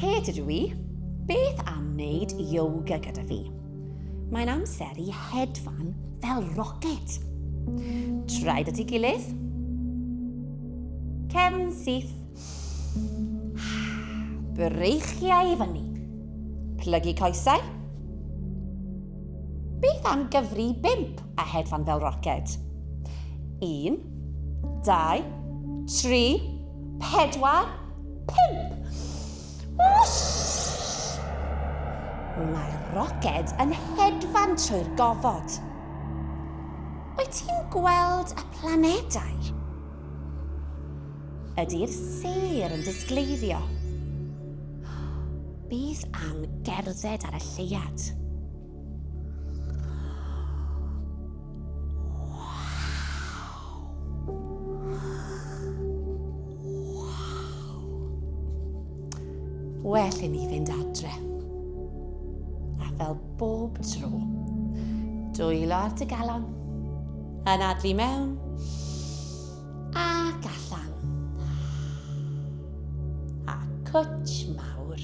Kate ydw i. Beth am wneud yoga gyda fi? Mae'n amser i hedfan fel rocket. Traed at ei gilydd. Cefn syth. Breichiau i fyny. Plygu coesau. Beth am gyfri bimp? a hedfan fel roced. Un, dau, tri, pedwar, pump! Whoosh! Mae'r roced yn hedfan trwy'r gofod. Wyt ti'n gweld y planedau? Ydy'r sêr yn disgleiddio? Bydd am gerdded ar y lleuad. well i ni fynd adre. A fel bob tro, dwylo ar dy galon, yn adlu mewn, ac allan. A cwtch mawr.